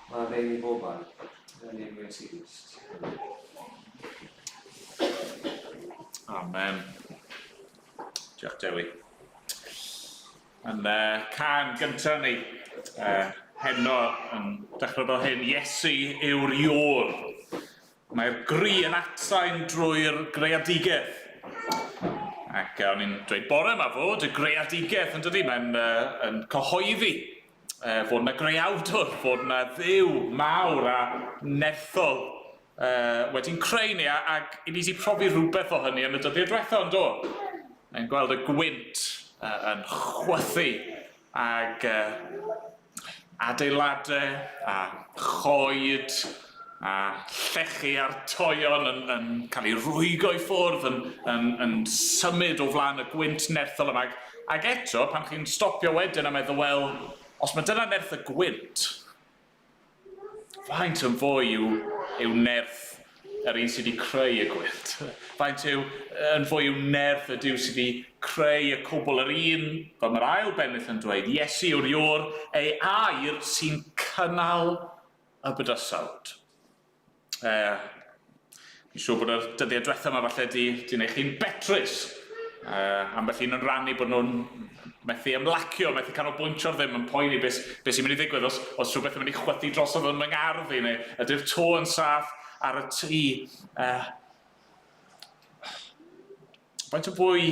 Mae rhaid i bob ar yn ei mwyn sy'n gwist. Amen. Diolch Dewi. Yn uh, can gyntaf ni, uh, heno yn dechrau fel hyn, Iesu yw'r iôr. Mae'r gri yn atsain drwy'r greadigeth. Ac o'n i'n dweud bore yma fod y greadigeth, yn dydy, mae'n uh, yn cyhoeddi uh, fod yna greawdwr, fod yna ddew mawr a nerthol uh, wedi'n creu ni, ac i ni wedi profi rhywbeth o hynny yn y dyddiau diwethaf, yn do? Mae'n gweld y gwynt uh, yn chwythu, ac uh, adeiladau a choed a llechi a'r toeon yn yn cael ei rwygo i ffwrdd yn yn yn symud o flaen y gwynt nerthol yma ac ac eto pan chi'n stopio wedyn a meddwl wel os mae dyna nerth y gwynt Faint yn fwy yw, yw nerth yr un sydd wedi creu y gwyllt? Faint yw, yn fwy yw nerth y Duw sydd wedi creu y cwbl? Yr un, fel mae'r ail bennill yn dweud, Iesu yw'r Iwr, ei air sy'n cynnal y bydysawd. Uh, Fi'n siŵr bod yr dyddiau diwetha yma falle di, di wneud chi'n betrus. Uh, ambell un yn rannu bod nhw'n methu ymlacio, methu canolbwyntio'r ddim yn poeni beth, beth sy'n mynd i ddigwydd os, os rhywbeth yn mynd i chwythu drosodd yn fy ngardd i, neu ydy'r to yn saff ar y tu. Uh, faint o fwy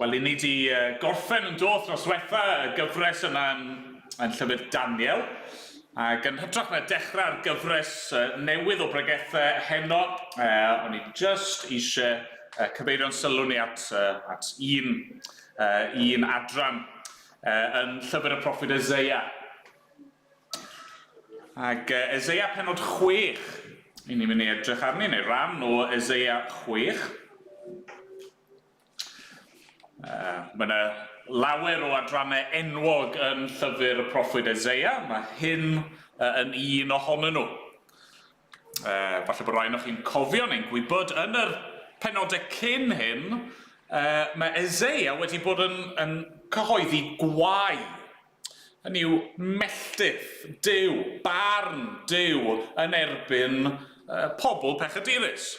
Wel, i ni di gorffen yn doth dros wetha y gyfres yna yn, yn llyfr Daniel, ac yn hytrach na dechrau'r gyfres newydd o bregethau heno, uh, o'n i just eisiau uh, cyfeirio'n sylw ni at, uh, at un, uh, un adran uh, yn llyfr y proffid Isaiah. Ac uh, Eseia penod 6, i ni'n mynd i edrych arni, neu ran o Eseia 6. Uh, mae yna lawer o adrannau enwog yn llyfr y proffwyd Eseia, mae hyn uh, yn un ohonyn nhw. Uh, falle bod rhaid o'ch chi'n cofio neu'n gwybod yn yr penodau cyn hyn, uh, mae Eseia wedi bod yn, yn cyhoeddi gwau Hynny yw, melltith Duw, barn Duw yn erbyn pobl pechadurus.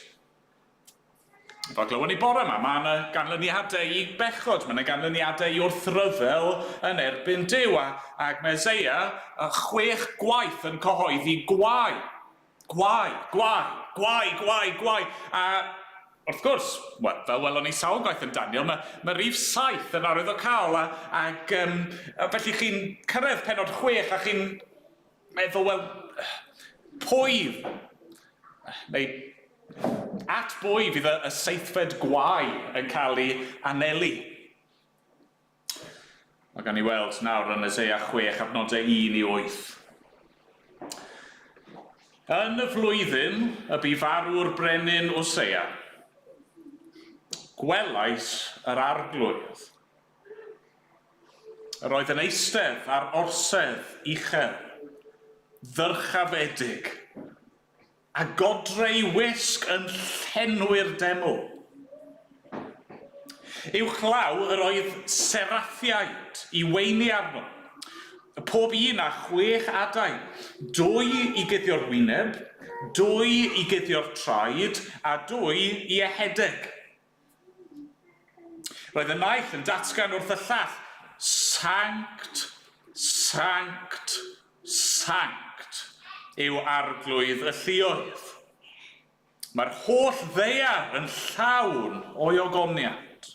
Fel glywon ni bore yma, mae yna ganlyniadau i bechod, mae yna ganlyniadau i wrthryfel yn erbyn Duw, ac mae Eseia chwech gwaith yn cyhoeddi gwae Gwae! Gwae! Gwae! Gwae! Gwae! A, wrth gwrs, wel, fel welon ni sawl gwaith yn Daniel, mae, mae rif saith yn arwyddocaol, a, ac, um, a felly chi'n cyrraedd penod chwech a chi'n meddwl, wel, pwy, neu at bwy fydd y, y seithfed gwae yn cael ei anelu? Mae gan ni weld nawr yn Eseia 6 at nodau 1 i 8. Yn y flwyddyn y bu farw'r brenin Wseia, gwelais yr Arglwydd. Yr oedd yn eistedd ar orsedd uchel, ddyrchafedig, A godre'i wisg yn llenwi'r deml. Uwchlaw yr oedd seraffiaid i weini arno, pob un â chwech adain, dwy i guddio'r wyneb, dwy i guddio'r traed, a dwy i ehedeg. Roedd y naill yn datgan wrth y llall, Sanct, Sanct, Sanct yw arglwydd y lluoedd. Mae'r holl ddaear yn llawn o'i ogoniant.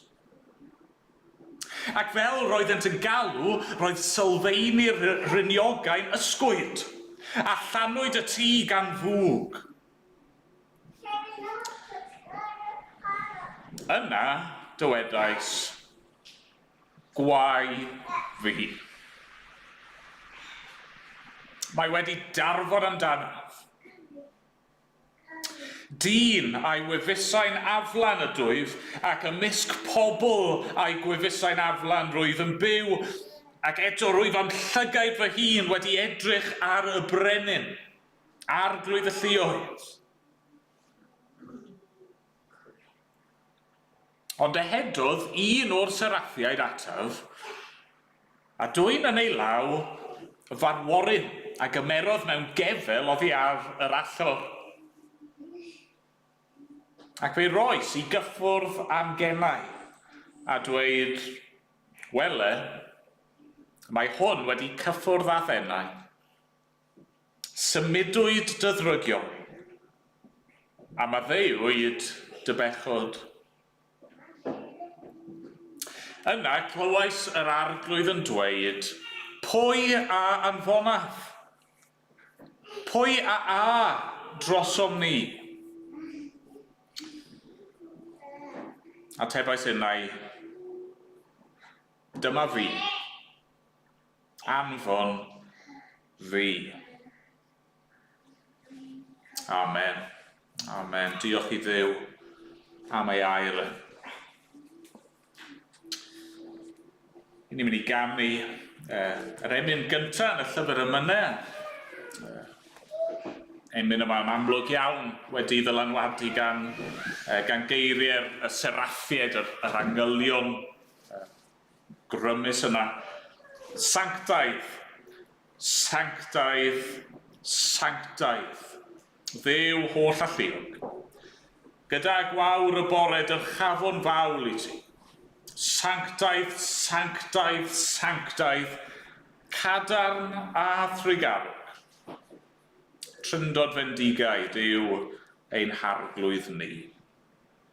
Ac fel roeddent yn galw, roedd sylfeini'r rhyniogau'n ysgwyd, a llanwyd y tŷ gan fwg. Yna dywedais, Gwae fi! Mae wedi darfod amdanaf. Dyn a'i wefusau'n aflan ydwyf, ac ymysg pobl a'i gwefusau'n aflan rwyf yn byw, ac eto rwyf â'm llygaid fy hun wedi edrych ar y brenin. Arglwydd y Lluoedd. Ond ehedodd un o'r seraffiaid ataf, a dwyn yn ei law fanworyn a gymerodd mewn gefel oddi ar yr allor, ac fe'i roes i gyffwrdd â'm gemau, a dweud, Wele, mae hwn wedi cyffwrdd â thennau, Symudwyd dy ddrygion di, a maddeuwyd dy bechod. Yna clywais yr Arglwydd yn dweud, Pwy a anfonaf? Pwy a a drosom ni? Atebais innau, Dyma fi. Anfon fi. Amen. Amen. Diolch i ddew am ei air. Yn ni'n mynd i ganu uh, yr emyn gyntaf yn y llyfr y mynau. Uh, emyn yma yn amlwg iawn wedi ddylanwadu gan, uh, gan geiriau y seraffiaid, yr, yr angylion, uh, grymus yna. Sanctaidd! Sanctaidd! Sanctaidd! Dduw holl alluog. Gyda gwawr y bore dyrchafwn fawl i ti. Sanctaidd! Sanctaidd! Sanctaidd! Cadarn a thrugarwg. Tryndod fendigaid yw ein harglwydd ni.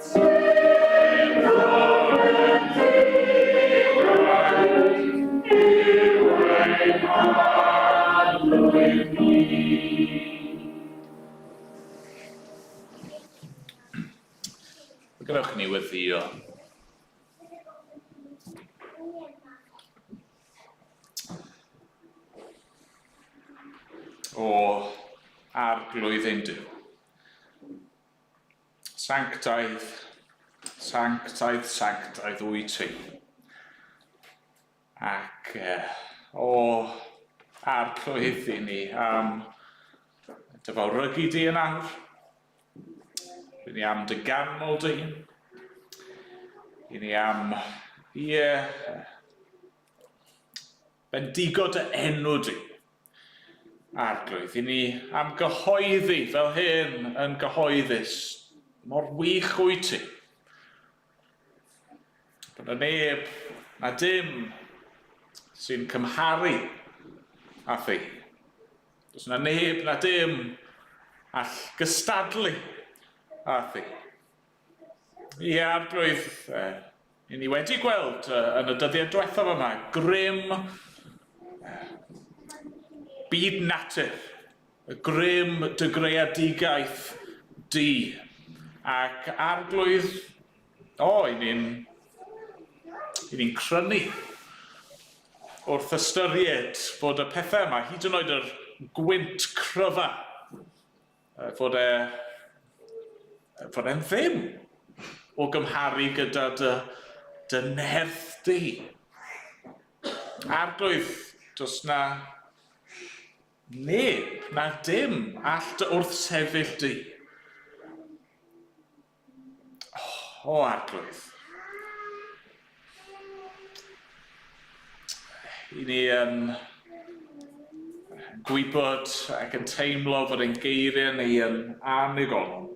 Gwnewch ni weddio. O arglwydd ein Duw. Sanctaidd, sanctaidd, sanctaidd wyt ti. Ac e, o, arglwydd i ni am dy fawrygu di yn awr. I ni am dy ganmol dy hun. I ni am, ie, Bendigo dy enw di. Arglwydd, i ni am gyhoeddi fel hyn yn gyhoeddus, mor wych wyt ti. Bod na neb na dim sy'n cymharu â thi. Does na neb na dim all gystadlu â thi. Ie, Arglwydd, e, i ni wedi gweld e, yn y dyddiau diwethaf yma, grym e, byd natur, y grym dy greadigaeth di. Ac Arglwydd, o, i ni'n i ni'n crynu wrth ystyried bod y pethau yma, hyd yn oed yr gwynt cryfa, Fod e... fod e'n ddim! O gymharu gyda dy... dy nerth di! Arglwydd, does 'na... neb, na dim, all dy wrthsefyll di. O, arglwydd. I ni yn gwybod ac yn teimlo fod ein geiriau ni yn annigonol.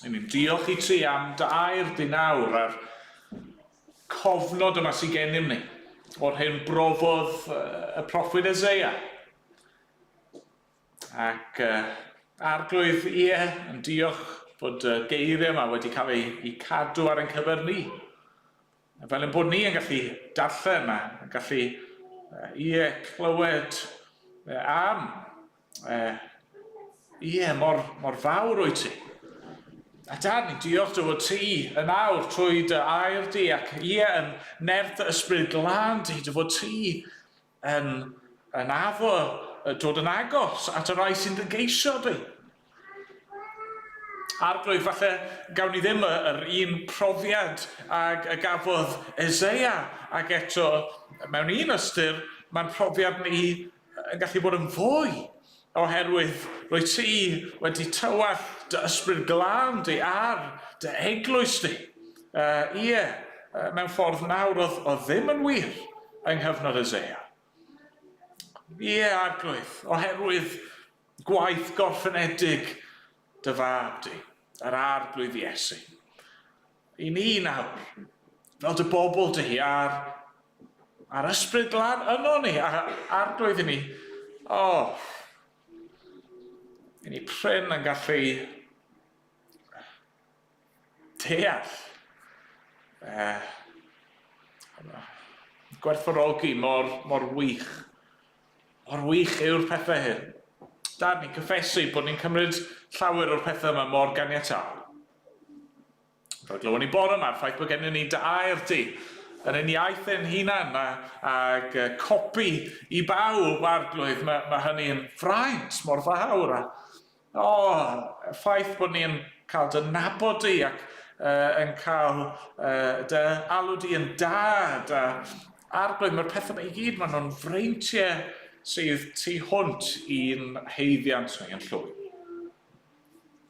I ni'n diolch i ti am dair dinawr a'r cofnod yma sy'n gennym ni o'r hyn brofodd y proffwyd Ezeia. Ac uh, arglwydd, ie, yn diolch bod y geiriau yma wedi cael eu, eu cadw ar ein cyfer ni. Fel yn bod ni yn gallu darllen a yn gallu, ie, clywed am, ie, mor, mor fawr o'i ti. A dad, ni'n diolch dy fod ti yn awr trwy dy air di ac ie, yn nerth ysbryd glân di, dy fod ti Yn yn addo y dod yn agos at y rai sy'n dy geisio di. Arglwydd, falle gawn ni ddim y, yr un profiad ag y gafodd Eseia, ac eto, mewn un ystyr, mae'n profiad ni yn gallu bod yn fwy Oherwydd rwyt ti wedi tywallt dy Ysbryd Glân di ar dy Eglwys di. Ie, mewn ffordd nawr oedd oedd ddim yn wir yng nghyfnod Eseia. Ie, Arglwydd, oherwydd gwaith gorffenedig dy Fab di, yr Arglwydd Iesu. I ni nawr, fel dy bobl di, a'r, a'r ysbryd glân yno ni, a'r arglwydd i ni. O! I ni prin yn gallu deall eh, gwerthfawrogi mor, mor wych. Mor wych yw'r pethau hyn. Dad, ni'n cyffesu bod ni'n cymryd llawer o'r pethau yma mor ganiataol. Fel glywon ni bore 'ma, ffaith bod gennyn ni dair du yn ein iaith ein hunan a, ag uh, copi i bawb, Arglwydd, mae, mae hynny'n fraint mor fawr. A, o, oh, ffaith bod ni'n cael dy nabod di ac uh, yn cael uh, dy alw di yn dad. A, Arglwydd, mae'r pethau yma i gyd, maen nhw'n freintiau sydd tu hwnt i'n heiddiant ni yn llwy.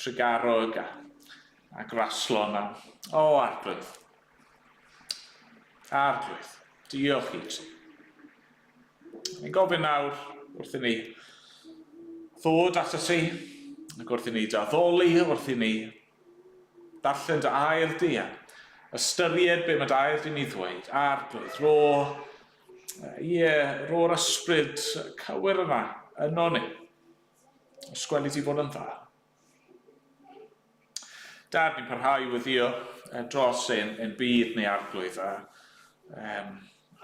Tregarwg a, a Graslon a... O, Arglwydd. Arglwydd, diolch i ti. Ni'n gofyn nawr wrth i ni ddod at y ti, ac wrth i ni daddoli, wrth i ni darllen dy air di a ystyried be mae dy air di'n ei ddweud. Arglwydd, ro, ie, ro'r ysbryd cywir yna, yno ni. Os gweli ti fod yn dda. Dad, ni'n parhau i weddio eh, dros ein, ein byd neu arglwydd a... Um,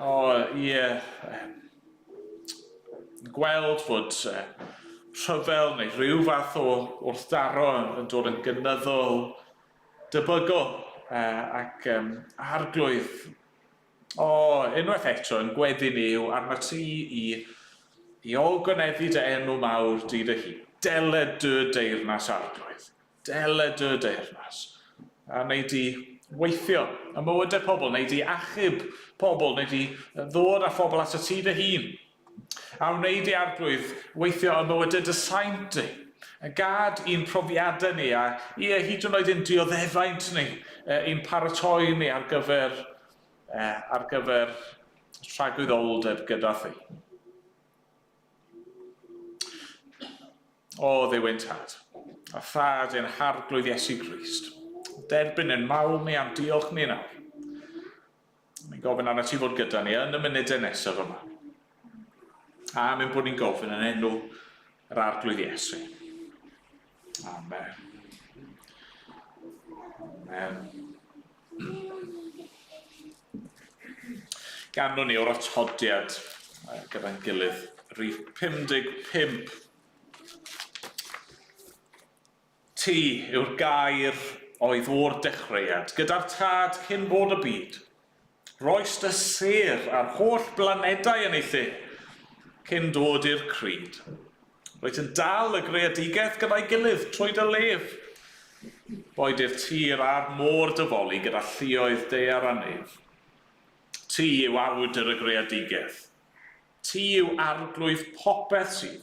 o, ie... Um, gweld fod uh, rhyfel neu rhyw fath o wrthdaro yn dod yn gynyddol debygol uh, ac um, arglwydd O, unwaith eto, yn gweddi ni yw arnat ti i i olgyneddu dy enw mawr di dy hun. Dele dy deyrnas, Arglwydd, dele dy deyrnas, a wnei di weithio ym mywydau pobl, wnei di achub pobl, wnei di ddod â phobl atat ti dy hun. a wneud i Arglwydd weithio yn mywydau dy saint di, a gad i'n profiadau ni, a ie, hyd yn oed ein dioddefaint ni, ein paratoi ni ar gyfer, ar gyfer rhagwyddoldeb gyda thi. O, ddiw ein Tad, a Thad ein Harglwydd Iesu Grist, derbyn yn mawl ni a'n diolch ni nawr. Mae'n gofyn arnat ti fod gyda ni yn y munudau nesaf yma. A mae'n bod ni'n gofyn yn enw yr arglwydd Iesu. Amen. Amen. Ganwn ni o'r atodiad gyda'n gilydd. Rhif 55. Ti yw'r gair oedd o'r dechreuad gyda'r tad cyn bod y byd. Roist y sêr a'r holl blanedau yn ei thŷ cyn dod i'r crud. Rwyt yn dal y greadigaeth gyda'i gilydd trwy dy lef. Boed i'r tir a'r môr dyfoli gyda lluoedd daear a nef. Ti yw awdur y greadigaeth. Ti yw arglwydd popeth sydd.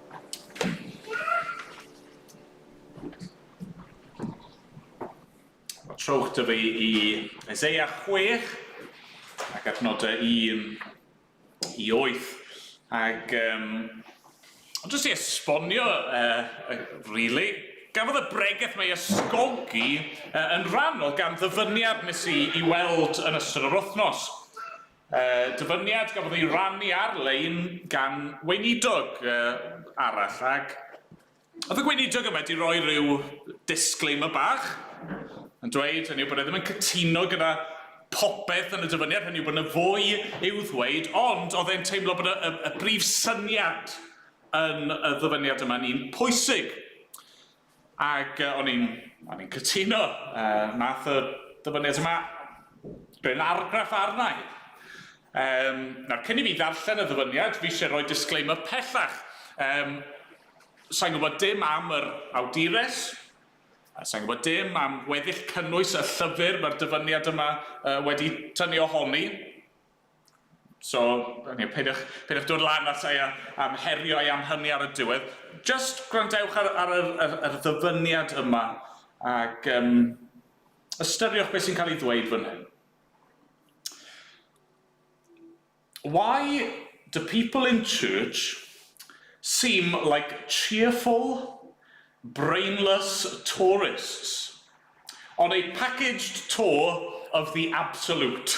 Mae trowch dy fi i Isaiah 6 ac adnodau 1 i 8. Ac um, ond jyst i esbonio, uh, really, gafodd y bregeth mae ysgogi uh, yn rhannol gan ddyfyniad nes i, i weld yn ystod yr wythnos. Dyfyniad gafodd ei rannu ar-lein gan weinidog arall ac oedd y gweinidog yma wedi rhoi rhyw disclaimer bach yn dweud hynny yw bod e ddim yn cytuno gyda popeth yn y dyfyniad, hynny yw bod yna fwy i'w ddweud, ond oedd e'n teimlo bod y, y, y brif syniad yn y ddyfyniad yma'n un pwysig. Ac o'n i'n o'n i'n cytuno, yy nath y dyfyniad yma rhoi'n argraff arna i. Yym nawr cyn i fi ddarllen y ddyfyniad fi isie roi disclaimer pellach, yym sai'n gwbod dim am yr awdures, a sai'n gwbod dim am weddill cynnwys y llyfr ma'r dyfyniad yma yy wedi tynnu ohoni. So, you know, peidiwch, peidiwch dod lan at ei am herio ei am hynny ar y diwedd. Just gwrandewch ar, ar yr, yr, yr ddyfyniad yma ac um, ystyriwch beth sy'n cael ei ddweud fan hyn. Why do people in church seem like cheerful, brainless tourists on a packaged tour of the absolute?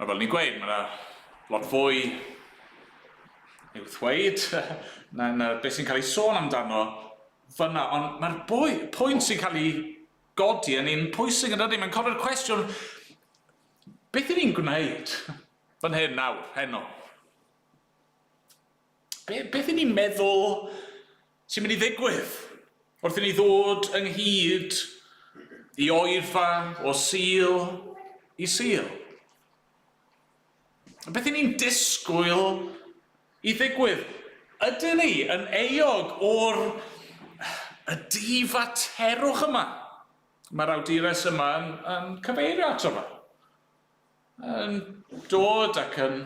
Mae fel ni'n gweud, mae yna lot fwy i'w ddweud na, na beth sy'n cael ei sôn amdano fyna, ond mae'r pwynt sy'n cael ei godi yn un pwysig yn dydy, mae'n codi'r cwestiwn, beth i ni'n gwneud fan hyn nawr, heno? Be, beth i ni'n meddwl sy'n mynd i ddigwydd wrth i ni ddod ynghyd i oedfa o Sul i Sul? Beth i ni'n disgwyl i ddigwydd? Ydyn ni yn euog o'r y difaterwch yma mae'r awdures yma yn, yn cyfeirio ato fo? yn dod ac yn,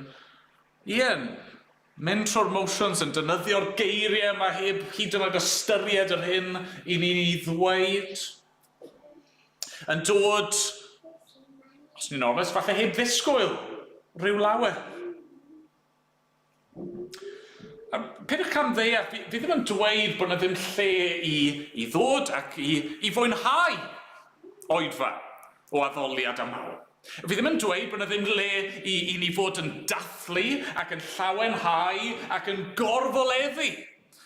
ie'n mynd trwy'r motions, yn defnyddio'r geiriau yma heb hyd yn oed ystyried yr hyn i ni'n ei ddweud, yn dod, os ni'n onest, falle heb ddisgwyl rhyw lawer. Yym, peidiwch cam ddeall, fi fi ddim yn dweud bod 'na ddim lle i i ddod ac i i fwynhau oedfa o addoliad aml. Fi ddim yn dweud bod 'na ddim le i i ni fod yn dathlu ac yn llawenhau ac yn gorfoleddu.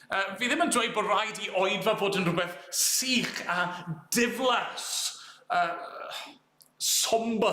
Yy, fi ddim yn dweud bod raid i oedfa fod yn rhywbeth sych a diflas, yy sombre.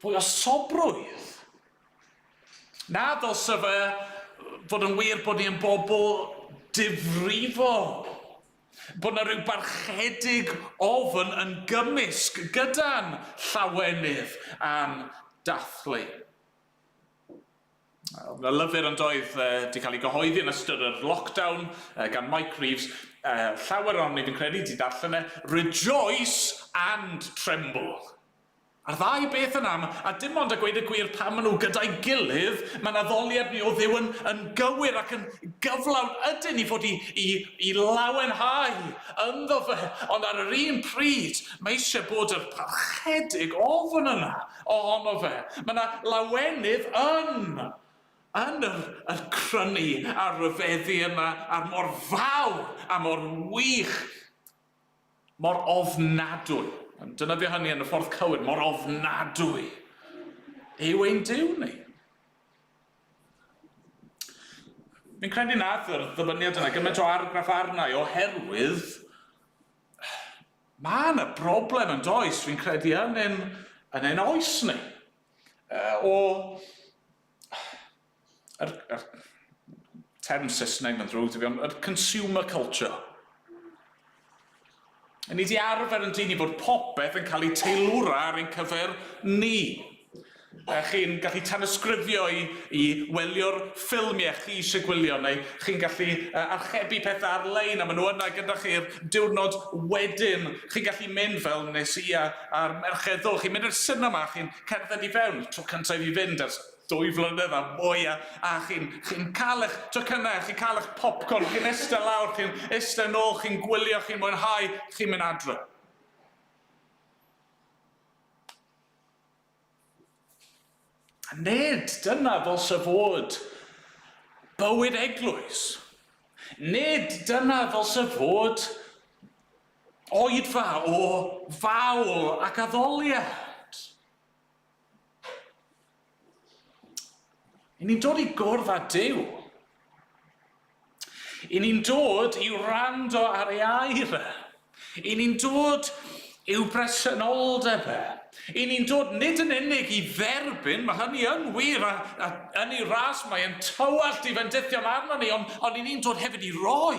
Fwy o sobrwydd? Naddo, sa fe fod yn wir bod ni yn bobl difrifol, bod 'na ryw barchedig ofn yn gymysg gyda'n llawenydd a'n dathlu. O'dd 'na lyfr yn doedd, 'di cael ei gyhoeddi yn ystod yr lockdown gan Mike Reeves, llawer ohonom ni fi'n credu 'di darllen e, 'Rejoice and Tremble'. A'r ddau beth yn am, a dim ond a gweud y gwir pan maen nhw gyda'i gilydd, mae naddoliad ni o Dduw yn, yn gywir ac yn gyflawn, ydyn ni fod i, i, i lawenhau ynddo fe, ond ar yr un pryd, mae eisiau bod yr parchedig ofn yna ohono fe. Mae yna lawenydd yn, yn yr, yr crynu a'r ryfeddu yma, a'r mor fawr a mor wych Mor ofnadwy, yn defnyddio hynny yn y ffordd cywir, mor ofnadwy yw ein Duw ni. Fi'n credu nad yr ddyfyniad yna gymaint o argraff arna i oherwydd mae yna broblem yn does, fi'n credu yn ein, yn ein oes ni. Uh, o yr yr term Saesneg ma'n ddrwg 'da fi ond yr consumer culture. Yn ni 'di arfer yn dyn i bod popeth yn cael ei teilwra ar ein cyfer ni. A chi'n gallu tanysgrifio i i welio'r ffilmie chi eisiau gwylio neu chi'n gallu uh, archebu pethau ar-lein a maen nhw yna gyda chi'r diwrnod wedyn. Chi'n gallu mynd fel nes i a a'r merched ddo, chi'n mynd i'r sinema, chi'n cerdded i fewn, tro cyntaf i fi fynd ers Dwy flynedd a mwy a a chi'n chi'n ca'l ych tocynnau a chi'n ca'l ych popcorn, chi'n iste lawr, chi'n iste nôl, chi'n gwylio, chi'n mwynhau, chi'n mynd adre. Nid dyna ddylse fod bywyd eglwys. Nid dyna ddylse fod oedfa o fawl ac addoliad. I ni'n dod i gwrdd â Duw. I ni'n dod i wrando ar ei air e. I ni'n dod i'w bresenoldeb e. I ni'n dod nid yn unig i dderbyn, mae hynny yn wir, a, a yn ei ras mae'n tywallt i fendithion arno ni, ond, ond i ni'n dod hefyd i roi.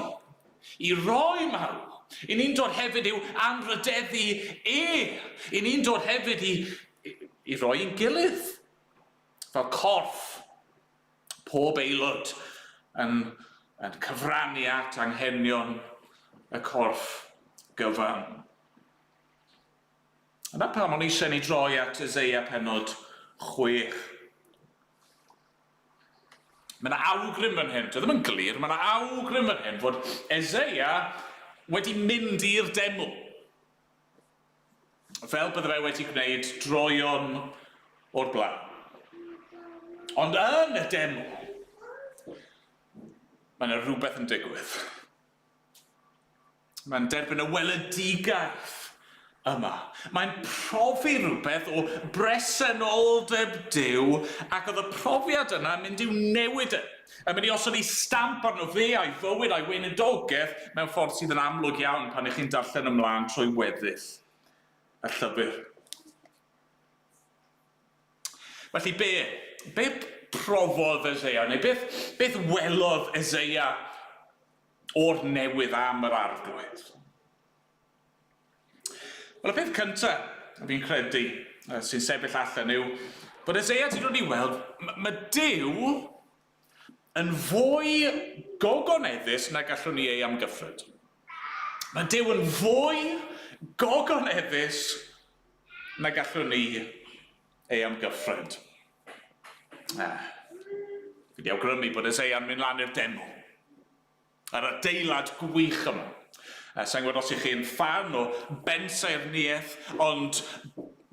Y rhai mawr i ni'n dod hefyd i'w anrhydeddu e, i ni'n dod hefyd i, i, i roi i'n gilydd, fel corff, pob aelod yn, yn cyfrannu at anghenion y corff gyfan. Yna pam o'n eisiau ni droi at Eseia penod chwech. Mae yna awgrym fan hyn, dio ddim yn glir, mae yna awgrym fan hyn fod Eseia wedi mynd i'r deml. Fel bydde fe wedi gwneud droion o'r blaen. Ond yn y deml, mae yna rhywbeth yn digwydd. Mae'n derbyn y weledigaeth yma. Mae'n profi rhywbeth o bresenoldeb Duw ac oedd y profiad yna yn mynd i'w newid e. Yn mynd i osod ei stamp arno fe a'i fywyd a'i weinidogaeth mewn ffordd sydd yn amlwg iawn pan ych chi'n darllen ymlaen trwy weddill y llyfr. Felly be? Be profodd Eseia? Neu beth, beth welodd Eseia o'r newydd am yr Arglwydd? Wel, y peth cynta, fi'n credu, sy'n sefyll allan yw bod Eseia 'di dod i weld, mae Dyw yn fwy gogoneddus na gallwn ni ei amgyffred. Mae Dyw yn fwy gogoneddus na gallwn ni ei amgyffred. Ah, fi di awgrymu bod es ei am mynd lan i'r deml. Yr adeilad gwych yma. Eh, sa'n gwybod os i chi yn ffan o bensaernïaeth, ond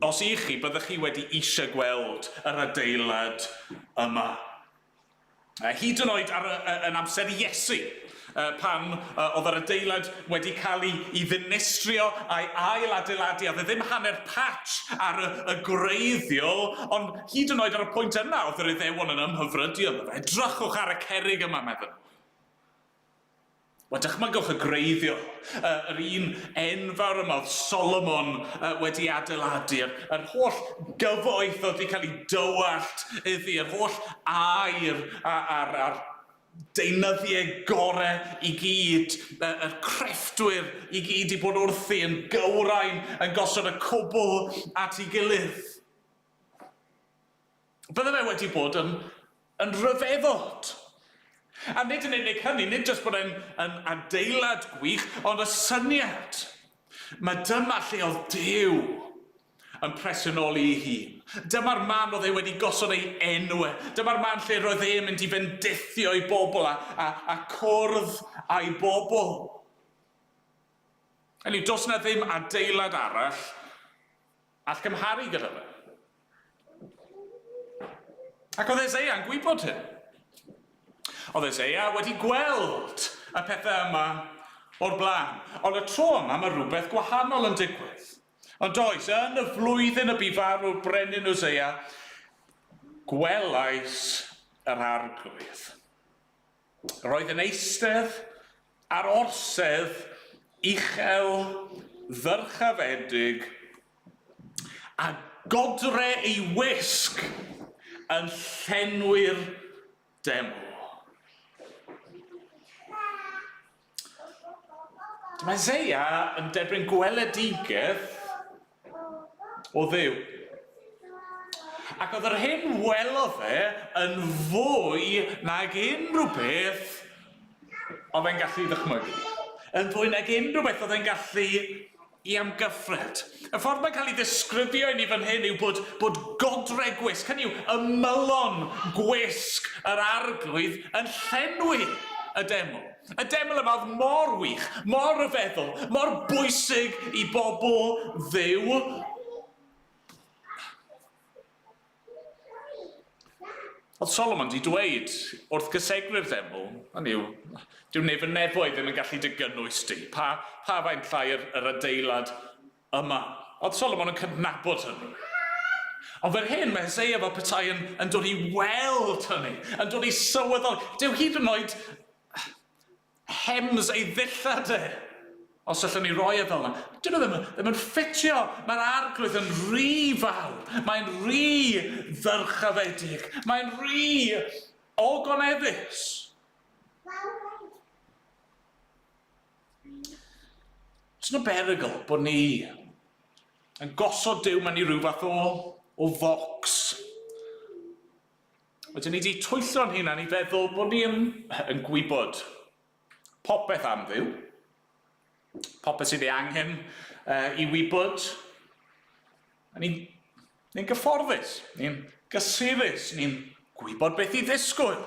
os i chi, byddech chi wedi eisiau gweld yr adeilad yma. A hyd yn oed ar y, y, yn amser Iesu, uh, pan uh, oedd yr adeilad wedi cael ei, ei ddinistrio a'i ail adeiladu, a dde ddim hanner patch ar y, y gwreiddiol, ond hyd yn oed ar y pwynt yna oedd yr Iddewon yn ymhyfrydio ynddo fe. Edrychwch ar y cerig yma, meddyn nhw. Wel, dychmygwch y gwreiddiol, yr un enfawr yma oedd Solomon wedi adeiladu, yr holl gyfoeth oedd wedi cael ei dywallt iddi, yr holl air a'r deunyddiau gorau i gyd, yr crefftwyr i gyd i bod wrthi yn gywrain, yn gosod y cwbl at ei gilydd. Bydde fe wedi bod yn yn ryfeddod. A nid yn unig hynny, nid jyst bod e'n yn adeilad gwych, ond y syniad mae dyma lle oedd Duw yn presenoli ei hun. Dyma'r man oedd e wedi gosod ei enw e. Dyma'r man lle roedd e'n mynd i fendithio ei bobl a, a, a cwrdd â'i bobl. Hynny yw, does na ddim adeilad arall All gymharu gyda fe. Ac oedd Esea'n gwybod hyn. Oedd Esea wedi gweld y pethau yma o'r blaen. Ond y tro yma mae rhywbeth gwahanol yn digwydd. Ond oes, yn y flwyddyn y bu farw'r brenin Usea, gwelais yr Arglwydd. Roedd yn eistedd ar orsedd uchel ddyrchafedig a godre ei wisg yn llenwi'r deml. Mae Zeia yn derbyn gweledigaeth o Dduw. Ac oedd yr hyn welodd fe yn fwy nag unrhyw beth oedd e'n gallu ddychmygu. Yn fwy nag unrhyw beth oedd e'n gallu I amgyffred. Y ffordd mae'n cael ei ddisgrifio i ni fan hyn yw bod, bod godre gwisg, hynny yw, ymylon gwisg yr Arglwydd yn llenwi y deml. Y deml yma oedd mor wych, mor ryfeddol, mor bwysig i bobl Dduw. Oedd Solomon di dweud wrth gysegru'r ddeml, hynny yw, dyw neb yn nefoedd ddim yn gallu dy gynnwys di, pa, pa faint llai yr, yr adeilad yma. Oedd Solomon yn cydnabod hynny. Ond fer hyn, mae Hosea fel petai yn, yn dod i weld hynny, yn dod i sylweddol, dyw hyd yn oed, Hems ei ddillad e! Os allwn ni roi e fel 'na. Dyw e ddim, ddim yn ffitio! Mae'r arglwydd yn rhy fawr, mae'n rhy ddyrchafedig, mae'n rhy ogoneddus. Oes 'na berygl bod ni yn gosod Duw mewn i ryw fath o o focs? Ydyn ni wedi twyllo'n hunan i feddwl bod ni yn, yn gwybod popeth am Dduw, popeth sydd ei angen uh, i wybod, ni'n ni gyfforddus, ni'n gysurus, ni'n gwybod beth i ddisgwyl.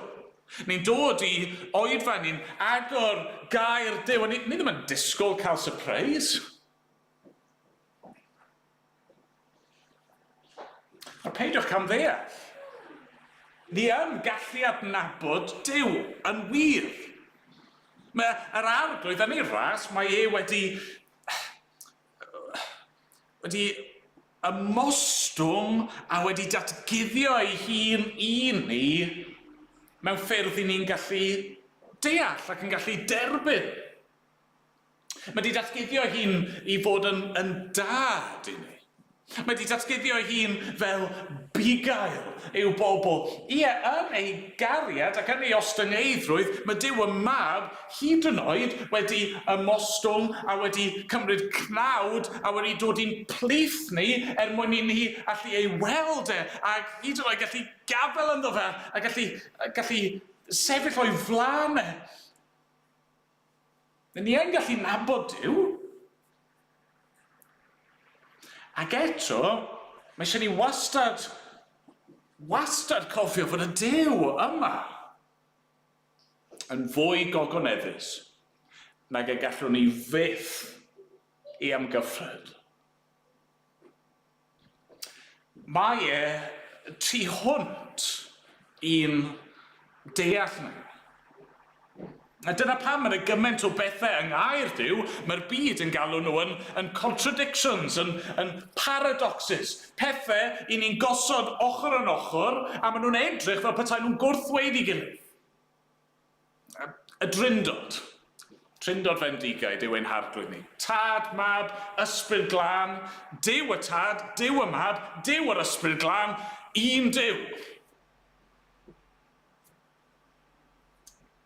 Ni'n dod i oedfa, ni'n agor gair Duw, a ni, ni ddim yn disgwyl cael surprise. A peidiwch camddeall. Ni yn gallu adnabod Duw yn wir. Mae yr Arglwydd yn ei ras, mae e wedi... wedi ymostwng a wedi datguddio ei hun i ni mewn ffyrdd i ni'n gallu deall ac yn gallu derbyn. Mae 'di datguddio hi'n i fod yn yn dad i ni. Mae 'di datguddio hi'n fel bugail i'w bobl. Ie, yn ei gariad ac yn ei ostyngeiddrwydd, mae Duw y Mab hyd yn oed wedi ymostwng a wedi cymryd cnawd a wedi dod i'n plith ni er mwyn i ni allu ei weld e a hyd yn oed gallu gadael ynddo fe a gallu, gallu sefyll o'i flaen e. Ry ni yn gallu nabod Duw. Ac eto, mae eisiau ni wastad, wastad cofio fod y Duw yma yn fwy gogoneddus nag y gallwn ni fyth ei amgyffred. Mae e tu hwnt i'n deall ni. A dyna pam mae 'na gymaint o bethe yng Nghaerdyw, mae'r byd yn galw nhw yn yn contradictions, yn yn paradoxes, pethe 'yn ni'n gosod ochr yn ochr a ma' nhw'n edrych fel petai nhw'n gwrthweiddi gilydd. Y Drindod. Trindod fendigaid yw ein harglwydd ni. Tad, Mab, Ysbryd Glân, Duw y Tad, Duw y Mab, Duw yr Ysbryd Glân, un Duw.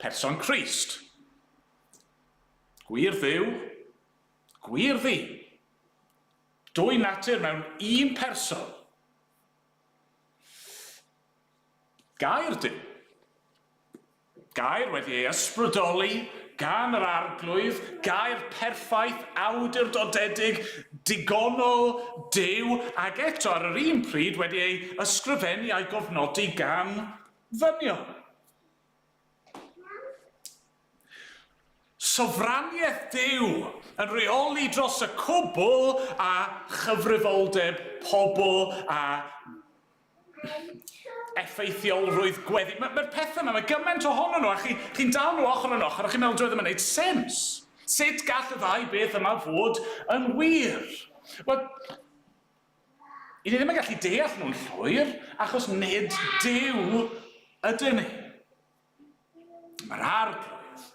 Person Crist. Gwir Dduw, gwir ddi. Dwy natur mewn un person. Gair Duw. Gair wedi ei ysbrydoli gan yr Arglwydd, gair perffaith, awdurdodedig, digonol, Duw, ac eto ar yr un pryd wedi ei ysgrifennu a'i gofnodi gan ddynion. Sofraniaeth Duw yn rheoli dros y cwbl a chyfrifoldeb pobl a effeithiolrwydd gweddi. Mae'r ma pethau yma, mae gymaint ohonyn nhw, a chi'n chi, chi dal nhw ochr yn ochr, a chi'n meddwl doedd ddim yn gwneud sens. Sut gall y ddau beth yma fod yn wir? Wel, i ni ddim yn gallu deall nhw'n llwyr, achos nid Duw ydyn ni. Mae'r Arglwydd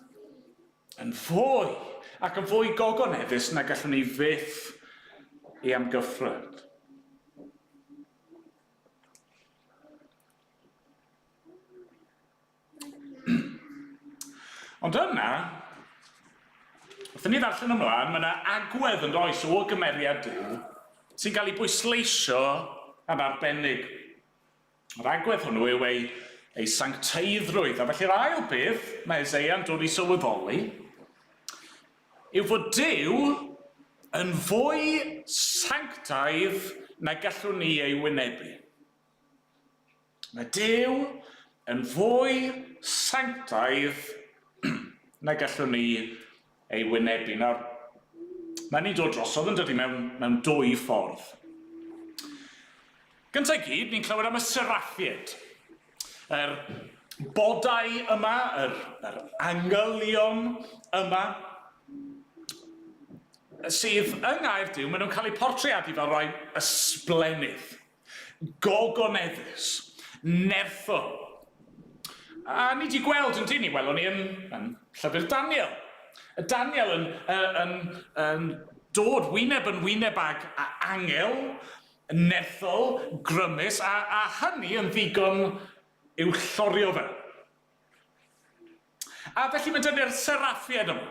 yn fwy ac yn fwy gogoneddus na gallwn ni fyth ei amgyffred. Ond yna, wrth ni ddarllen ymlaen, mae yna agwedd yn does o gymeriad Dyw sy'n cael ei bwysleisio yn arbennig. Yr agwedd hwnnw yw ei, ei sancteiddrwydd. A felly'r ail beth mae Eseia'n dod i sylweddoli yw fod Duw yn fwy sanctaidd na gallwn ni ei wynebu. Mae Duw yn fwy sanctaidd na gallwn ni ei wynebu. Nawr, mae'n ni'n dod drosodd yn dydy mewn, mewn dwy ffordd. Gyntaf i gyd, ni'n clywed am y seraffied. Yr bodau yma, yr, yr angylion yma, sydd yng Nghaerdyw, maen nhw'n cael eu portreadu fel rhai ysblennydd. Gogoneddus. Nertho. A ni 'di gweld, yndyn ni, welon ni yn, yn llyfr Daniel. Y Daniel yn, uh, yn, yn dod wyneb yn wyneb ag a angel, nerthol, grymus, a, a hynny yn ddigon i'w llorio fe. A felly mae dyni'r seraffiaid yma,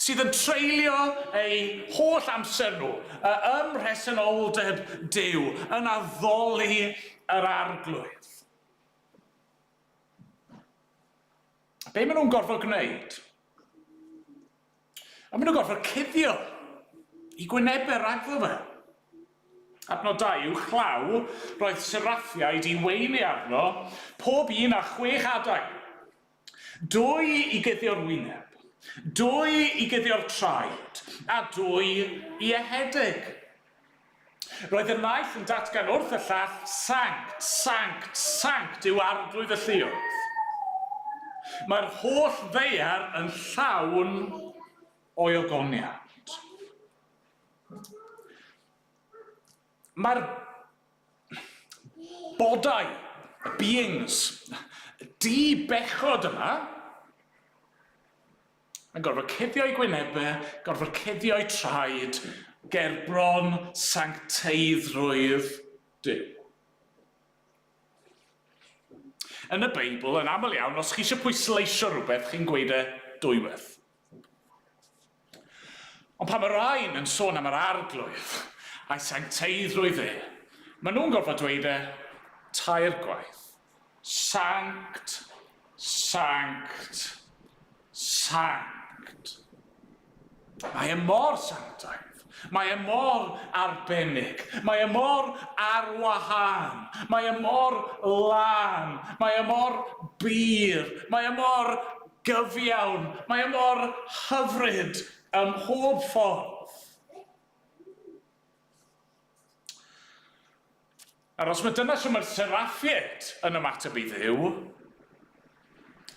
sydd yn treulio eu holl amser nhw y- ym mhresenoldeb Duw, yn addoli yr arglwydd. Be maen nhw'n gorfod gwneud? A maen nhw'n gorfod cuddio i gwynebau ragddo fe. Adnodau yw chlaw roedd seraffiaid i weini arno, pob un â chwech adeg. Dwy i guddio'r wyneb, dwy i guddio'r traed, a dwy i ehedeg. Roedd y naill yn datgan wrth y llall, Sanct, Sanct, Sanct yw Arglwydd y Lluoedd. Mae'r holl ddaear yn llawn o'i ogoniant. Mae'r bodau, y beings, di-bechod yma, yn gorfod cuddio'i gwynebau, gorfod cuddio'i traed, gerbron sancteiddrwydd Duw. Yn y Beibl, yn aml iawn, os chi eisiau pwysleisio rhywbeth, chi'n gweud e dwywaith. Ond pan mae rhain yn sôn am yr arglwydd a'i sancteiddrwydd e, maen nhw'n gorfod dweud e tair gwaith. Sanct, sanct, sanct. Mae e mor sanctaidd, mae e mor arbennig, mae e mor ar wahân, mae e mor lân, mae e mor bur, mae e mor gyfiawn, mae e mor hyfryd ym mhob ffordd. Nawr, os mae dyna shwt mae'r Seraphiaid yn ymateb i Dduw,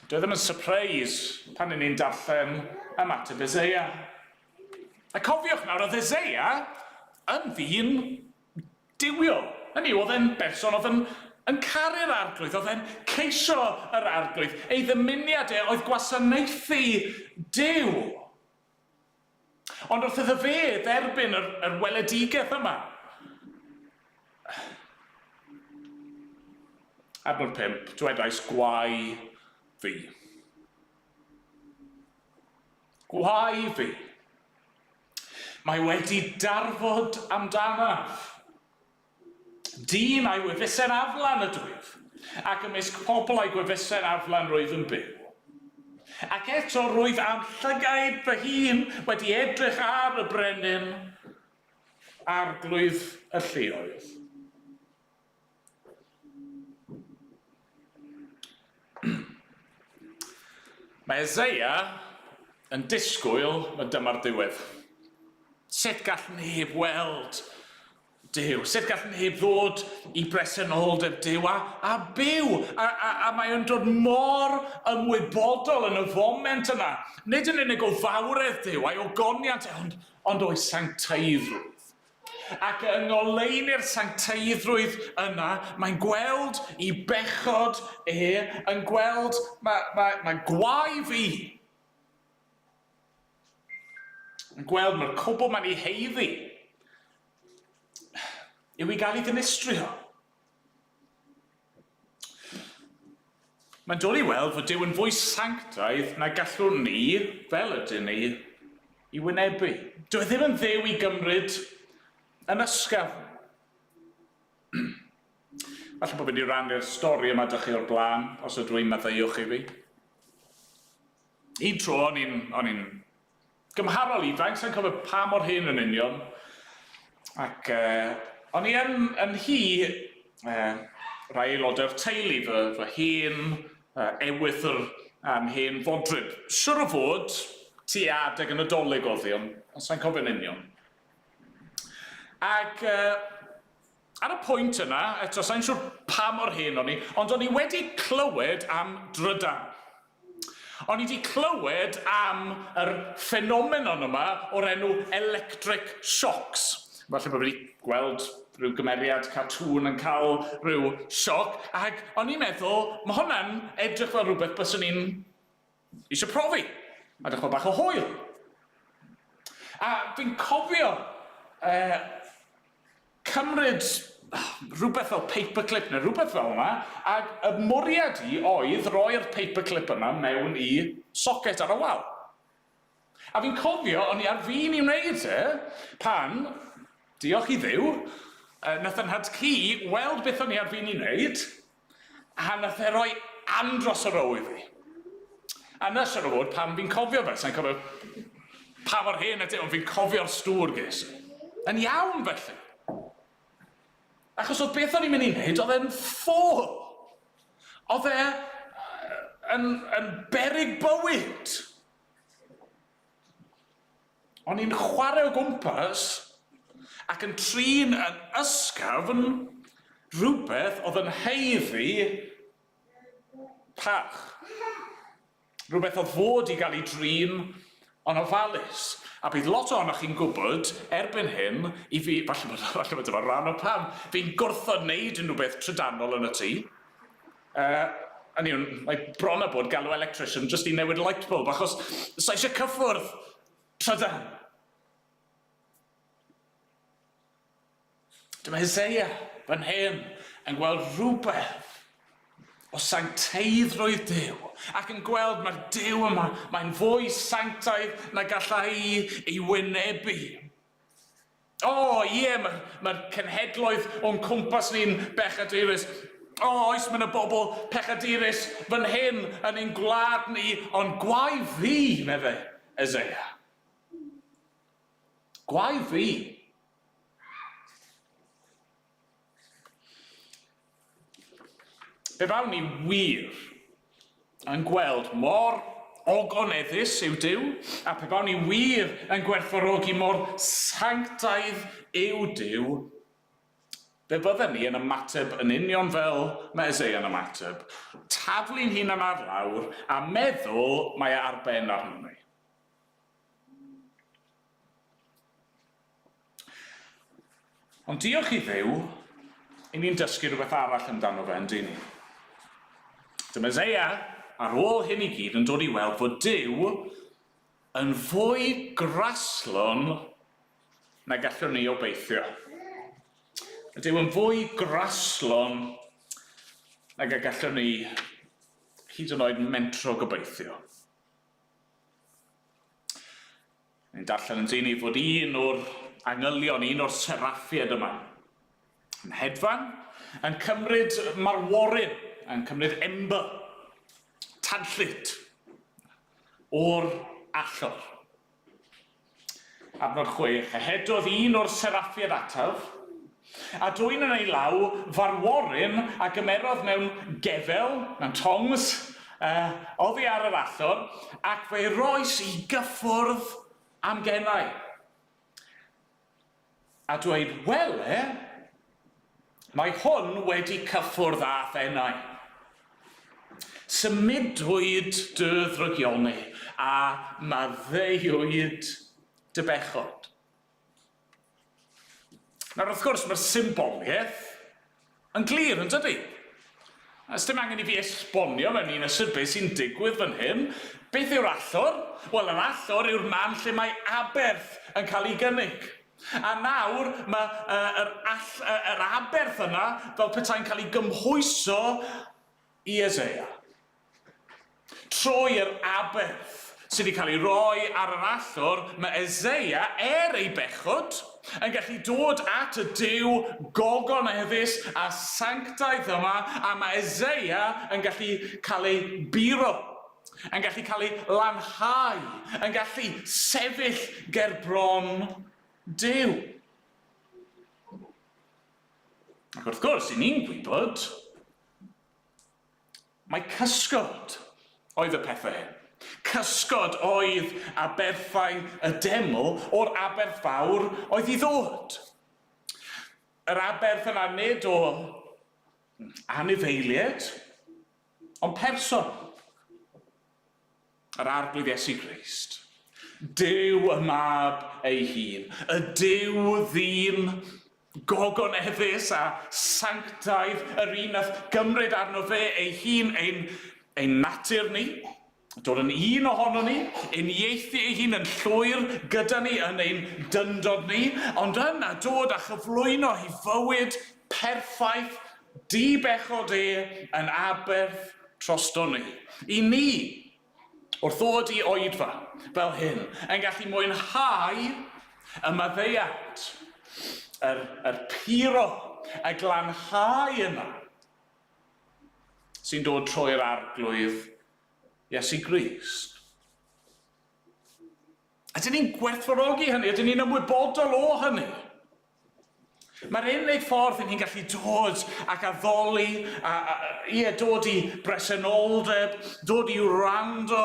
dyw e ddim yn sypreis pan 'yn ni'n darllen ymateb Eseia. A cofiwch nawr, oedd Eseia yn ddyn duwiol. Hynny yw, oedd e'n berson oedd yn, yn caru'r Arglwydd, oedd e'n ceisio yr Arglwydd. Ei ddymuniad e oedd gwasanaethu Duw. Ond wrth iddo fe dderbyn yr, yr weledigaeth yma. Adnod 5, dwedais gwau fi. Gwau fi. Mae wedi darfod amdanaf. Dyn a'i wefusen aflan ydw ef, ac ymysg pobl a'i gwefusen aflan rwyf yn byw. Ac eto rwyf â'm llygaid fy hun wedi edrych ar y brenin, arglwydd y lleoedd. Mae Eseia yn disgwyl na dyma'r diwedd. Sut gall neb weld Duw, sut gall neb ddod i bresenoldeb Duw, a, a byw, a, a, a mae o'n dod mor ymwybodol yn y foment yna, nid yn unig o fawredd Duw, a'i ogoniant e, ond, ond o'i sancteiddrwydd. Ac yng ngoleuni'r sancteiddrwydd yna, mae'n gweld i bechod e, yn gweld, mae, mae, mae gwae fi, Yn gweld mae'r cwbl mae'n ei haeddu yw i gael ei ddinistrio. Mae'n dod i weld fod Duw yn fwy sanctaidd na gallwn ni, fel ydyn ni, i wynebu. Dyw e ddim yn dduw i gymryd yn ysgafn. Falle bod fi wedi rannu'r stori yma da chi o'r blaen, os ydw i'n maddeuwch i fi. Un tro o'n i'n, o'n i'n gymharol ifanc, sai'n cofio pa mor hŷn yn union, ac yy, o'n i yn, yn hi, yy, rhai aelodau'r teulu, fy, fy hen yy, ewythr a'n hen fodryb. Siwr o fod, tua adeg y Nadolig oedd hi, ond, ond sai'n cofio'n union. Ac yy, Ar y pwynt yna, eto, sai'n siŵr pa mor hen o'n i, ond o'n i wedi clywed am drydan. O'n i 'di clywed am yr ffenomenon yma o'r enw electric shocks. Falle bod fi 'di gweld rhyw gymeriad cartŵn yn cael rhyw sioc, ac o'n i'n meddwl, ma' hwnna'n edrych fel rhywbeth byswn i'n Isio profi. A dechrau bach o hwyl. A fi'n cofio yy cymryd rhywbeth fel paperclip neu rhywbeth fel yna, a y mwriad i oedd roi'r paperclip yna mewn i socket ar y wal. A fi'n cofio, o'n i ar fin i wneud e, pan, diolch i Dduw, yy nath 'y nhad-cu weld beth o'n i ar fin i wneud, A nath e roi andros o row i fi. A 'na siŵr o fod pam fi'n cofio fe, sai'n cofio pa mor hen ydi e, ond fi'n cofio'r stŵr ges i. Yn iawn felly. Achos o'dd beth o'n i'n mynd i neud o'dd e'n ffôl. O'dd e yn yn beryg bywyd. O'n i'n chwarae o gwmpas ac yn trin yn ysgafn rhywbeth oedd yn haeddu parch. Rhywbeth oedd fod i gael ei drin yn ofalus. A bydd lot ohonoch chi'n gwybod, erbyn hyn, i fi, falle bod, falle bod dyma ran o pam, fi'n gwrthod wneud unrhyw beth trydanol yn y tŷ. Yy, hynny yw, mae bron a bod galw electrician jyst i newid light bulb, achos sa' isie cyffwrdd trydan. Dyma Hysseia, fy nhen, yn gweld rhywbeth o sancteiddrwydd Duw, ac yn gweld mae'r Duw yma, mae'n fwy sanctaidd na galla i ei wynebu. O, ie, mae'r mae cenhedloedd o'n cwmpas ni'n bechadurus. O, oes, mae yna bobl pechadurus fan hyn yn ein gwlad ni, ond gwae fi, meddai Eseia. Gwae fi. Fe wnawn ni wir yn gweld mor ogoneddus yw Duw, a pe bawn ni wir yn gwerthfawrogi mor sanctaidd yw Duw, fe fydden ni yn ymateb yn union fel mae Eseia'n ymateb, taflu'n hunan ar lawr a meddwl mae e ar ben arnom ni. Ond diolch i Dduw, i ni'n dysgu rhywbeth arall amdano fe, yndyn ni? Dy Meseia, ar ôl hyn i gyd, yn dod i weld fod Duw yn fwy graslon na gallwn ni obeithio. Mae Duw yn fwy graslon nag y gallwn ni hyd yn oed mentro gobeithio. Ni'n darllen yn dyn ei fod un o'r angylion, un o'r seraffied yma, yn hedfan, yn cymryd marworyn, yn cymryd ember, tanllyd, o'r allor. Adnod chwech, A hedodd un o'r seraffied ataf, A dwyn yn ei law farworyn a gymerodd mewn gefel, mewn tongs, yy, oddi ar yr allor, ac fe'i rois i gyffwrdd â'm genau, a dweud, Wele, mae hwn wedi cyffwrdd â phenau. Symudwyd dy ddrygioni, a maddeuwyd dy bechod. Nawr, wrth gwrs, mae'r symbolgaeth yn glir, yn dydy? A dim angen i fi esbonio mewn un ystyr beth sy'n digwydd fan hyn. Beth yw'r allor? Wel, yr allor yw'r man lle mae aberth yn cael ei gynnig. A nawr mae uh, yr, all, uh, yr aberth yna fel petai'n cael ei gymhwyso i Eseia. Trwy yr aberth sydd wedi cael ei roi ar yr allor, mae Eseia, er ei bechod, yn gallu dod at y Duw gogoneddus a sanctaidd yma, a mae Eseia yn gallu cael ei buro, yn gallu cael ei lanhau, yn gallu sefyll ger bron Duw. Ac wrth gwrs, 'y ni'n gwybod, Mai cysgod oedd y pethau hyn. Cysgod oedd aberthau y deml o'r aberth fawr oedd i ddod. Yr aberth yna nid o anifeilied, ond person. Yr Arglwydd Iesu Grist. Duw y Mab ei hun. Y Duw Ddyn gogoneddus a sanctaidd, yr un nath gymryd arno fe ei hun ein ein natur ni, dod yn un ohonon ni, uniaethu ei hun yn llwyr gyda ni yn ein dyndod ni, ond yna dod a chyflwyno ei fywyd Perffaith dy bechod e yn aberth trostwni. Y ni, wrth ddod i oedfa fel hyn, yn gallu mwynhau y maddeuant, yr, yr puro, y glanhau yna sy'n dod trwy'r Arglwydd Iesu Grist. Ydyn ni'n gwerthfawrogi hynny? Ydyn ni'n ymwybodol o hynny? Mae'r unig ffordd i ni'n gallu dod ac addoli, a, a, ie, dod i bresenoldeb, dod i wrando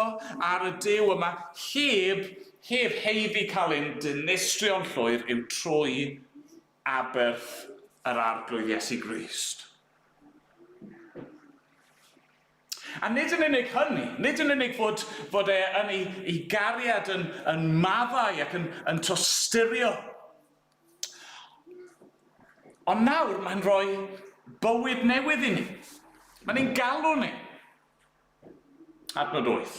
ar y Duw yma, heb, heb heiddi cael ein dinistrio'n llwyr, yw trwy aberth yr Arglwydd Iesu Grist. A nid yn unig hynny, nid yn unig fod, fod e yn ei, ei gariad yn, yn maddau ac yn, yn tosturio, ond nawr mae'n rhoi bywyd newydd i ni. Mae'n ein galw ni. Adnod 8.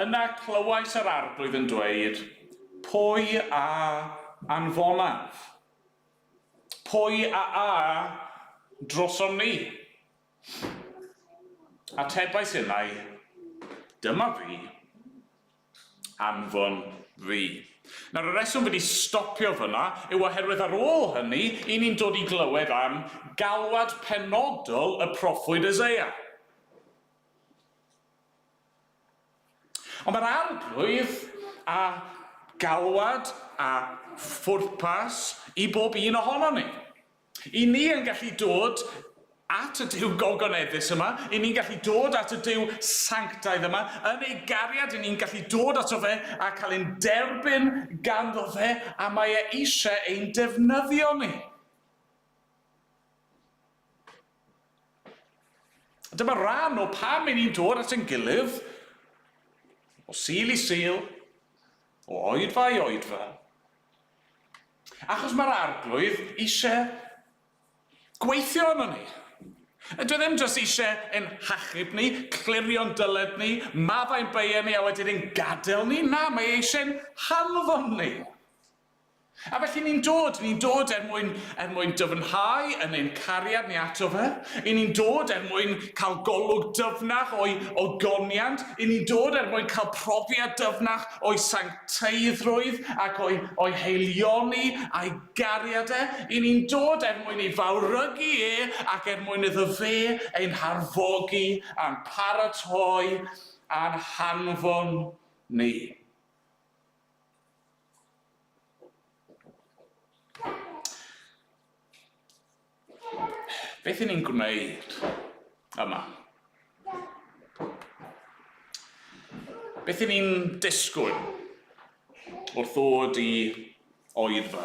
Yna clywais yr arglwydd yn dweud, Pwy a anfonaf? Pwy a a drosom ni? Atebais e mai, Dyma fi. Anfon fi. Nawr, y reswm wedi stopio fyna yw oherwydd ar ôl hynny, i ni'n dod i glywed am galwad penodol y proffwyd Eseia. Ond mae'r Arglwydd â galwad a phwrpas i bob un ohonon ni. Y ni yn gallu dod at y Duw gogoneddus yma, y ni'n gallu dod at y Duw sanctaidd yma, yn ei gariad, y ni'n gallu dod ato fe a cael ein derbyn ganddo fe, a mae e eisiau ein defnyddio ni. Dyma ran o pam i ni'n dod at ein gilydd, o sil i sil, o oedfa i oedfa, Achos mae'r Arglwydd eisiau gweithio arnon ni. Dyw e ddim jyst eisiau ein hachub ni, clirio'n dyled ni, maddau'n beiau ni a wedyn ein gadael ni. Na, mae e eisiau ein hanfon ni. A felly ni'n dod, ni'n dod er mwyn, er mwyn dyfnhau yn ein cariad ni ato fe. I ni'n dod er mwyn cael golwg dyfnach o'i ogoniant. I ni'n dod er mwyn cael profiad dyfnach o'i sancteiddrwydd. teithrwydd ac o'i o'i haelioni a'i gariad e, i ni'n dod er mwyn ei fawrygu e ac er mwyn iddo fe ein harfogi a'n paratoi a'n hanfon ni. Beth i ni'n gwneud yma? Beth i ni'n disgwyl wrth ddod i oedfa?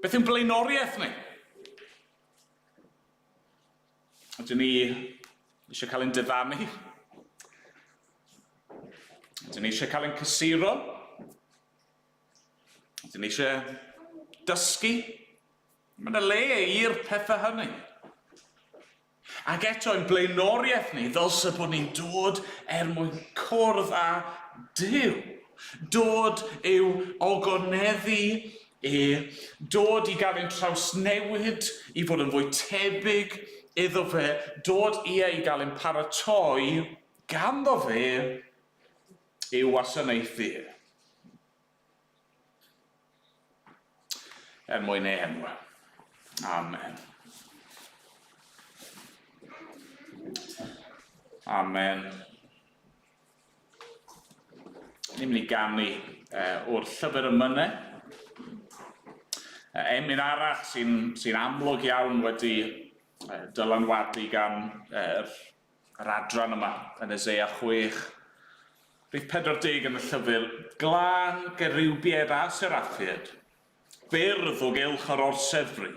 Beth yw'n blaenoriaeth ni? Ydyn ni eisiau cael ein diddannu? Ydyn ni eisiau cael ein cysuro? Dyn ni eisiau dysgu. Mae yna le i'r pethau hynny. Ac eto, ein blaenoriaeth ni ddylse bod ni'n dod er mwyn cwrdd â Duw, dod i'w ogoneddu e, dod i gael ein trawsnewid, i fod yn fwy tebyg iddo fe, dod ie i gael ein paratoi ganddo fe ei wasanaethu er mwyn ei enw. Amen. Amen. Ni'n mynd i ganu uh, o'r llyfr y mynau. Uh, emyn arall sy'n sy amlwg iawn wedi uh, dylanwadu gan uh, yr adran yma, yn y Ze a chwech. Rhif 40 yn y llyfr, Glan, Gerubiaid a Seraffiaid, byrdd o gylch yr orsedd-fri.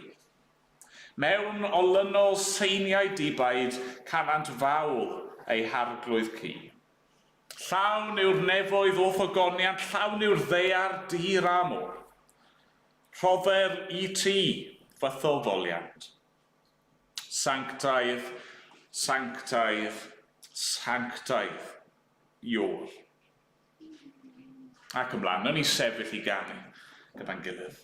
Mewn olynol seiniau dibaid canant fawl eu harglwydd ci. Llawn yw'r nefoedd o'th ogoniant, llawn yw'r ddaear dir a môr. Rhodder i ti fy tho-foliant. Sanctaidd, sanctaidd, sanctaidd, Iôl. Ac ymlaen, nawn ni sefyll i ganu gyda'n gilydd.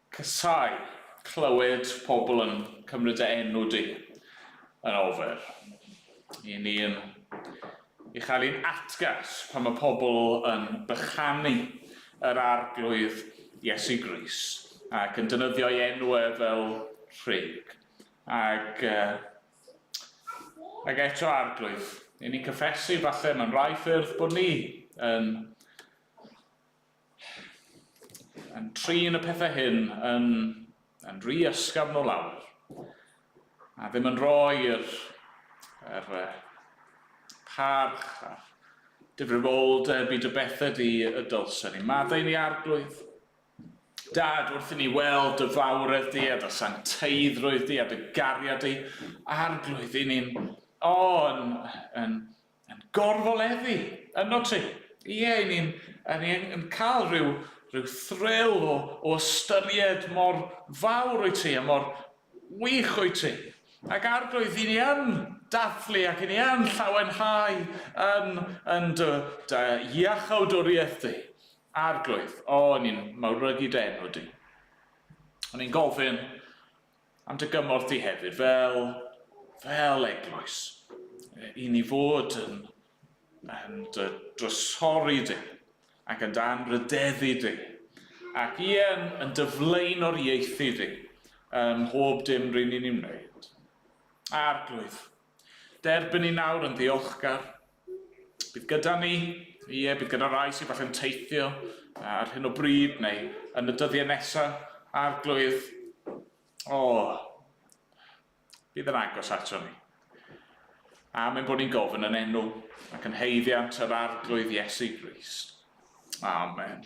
Casai clywed pobl yn cymryd dy enw di yn ofer. Y'n ni'n ei chael hi'n atgas pan mae pobl yn bychanu yr Arglwydd Iesu Grist ac yn defnyddio'i enw e fel rhug. Ac ac eto Arglwydd, y'n ni'n cyffesu falle mewn rhai ffyrdd bod ni yn Yn trin y pethau hyn yn, yn rhy ysgafn o lawr, a ddim yn rhoi yr, yr uh, parch a'r difrifoldeb i dy bethe di y dylsen ni. Maddau ni arglwydd. Dad, wrth i ni weld dy fawredd di a dy sancteiddrwydd di a dy gariad di, arglwydd i ni'n, o, yn, yn, Yn gorfoleddu, ynddo ti? Ie, i ni'n, a ni yn, yn cael rhyw, rhyw thrill o, o ystyried mor fawr wyt ti a mor wych wyt ti. Ac Arglwydd, i ni yn dathlu ac i ni yn llawenhau yn, yn dy, dy iachawdwriaeth di. Arglwydd, o, ni'n mawrygu dy enw di. O'n i'n gofyn, Am dy gymorth di hefyd fel, fel eglwys, i ni fod yn, yn dy drysori di, ac yn dy anrhydeddu di, ac ie, yn, yn dy flaenoriaethu di ym mhob dim rŷn ni'n ei wneud. Arglwydd, derbyn ni nawr yn ddiolchgar, Bydd gyda ni, ie, bydd gyda rai sydd falle'n teithio ar hyn o bryd neu yn y dyddiau nesaf, arglwydd, o, bydd yn agos ato ni. A mae'n bod ni'n gofyn yn enw ac yn heiddiant yr arglwydd Iesu Grist. Amen.